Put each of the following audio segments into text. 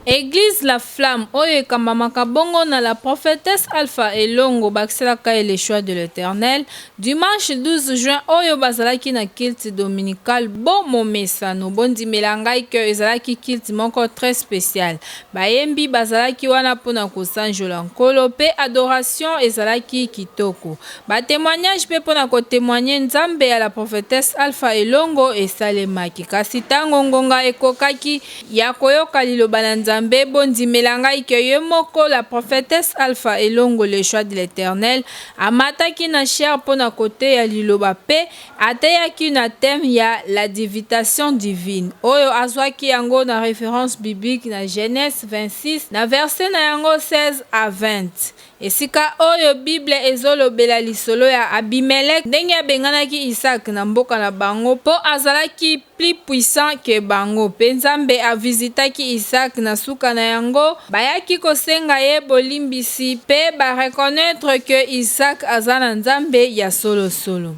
Eglise la flamme oyo ekambamaka bongo na la prophetesse Alpha Elongo bakiselaka ye le choix de l'Eternel dimanche 12 juin oyo bazalaki na culte dominical bo momesano bondimela ngai que ezalaki culte moko très spécial bayembi bazalaki wana pona kosanjola nkolo pe adoration ezalaki kitoko ba temoignage pe pona ko temoigner nzambe ya la prophetesse Alpha Elongo esalemaki kasi tango ngonga ekokaki ya koyoka liloba na Nzambe, bondimela ngai que ye moko la prophetesse Alpha Elongo le choix de l'Eternel amataki na chair mpo na koteya liloba mpe ateyaki na thème ya la divitation divine oyo azwaki yango na reference biblique na Genese 26 na verset na yango 16 à 20. Esika oyo Biblia ezolobela lisolo ya Abimelec ndenge abenganaki Isaac na mboka na bango po azalaki plus puissant que bango pe Nzambe a visitaki Isaac na suka na yango bayaki kosenga ye bolimbisi pe ba reconnaitre que Isaac aza na Nzambe ya solo solo.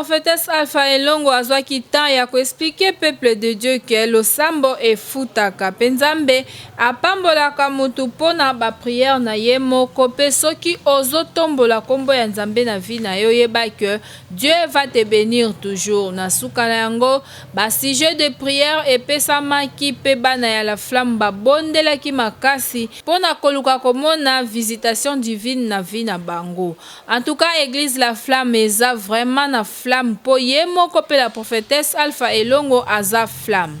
prophetesse Alpha Elongo azwaki temps ya koexplike peuple de Dieu ke losambo efutaka mpe Nzambe Apambolaka mutu pona ba prière na ye moko pe soki ozo tombola kombo ya Nzambe na vie na yo yeba que Dieu va te benir toujours na suka na yango ba sujet de prière epesamaki pe bana ya la flamme ba bondelaki makasi pona koluka komona visitation divine na vie na bango en tout cas eglise la flamme eza vraiment na flamme po ye moko pe la prophetesse Alpha Elongo aza flamme.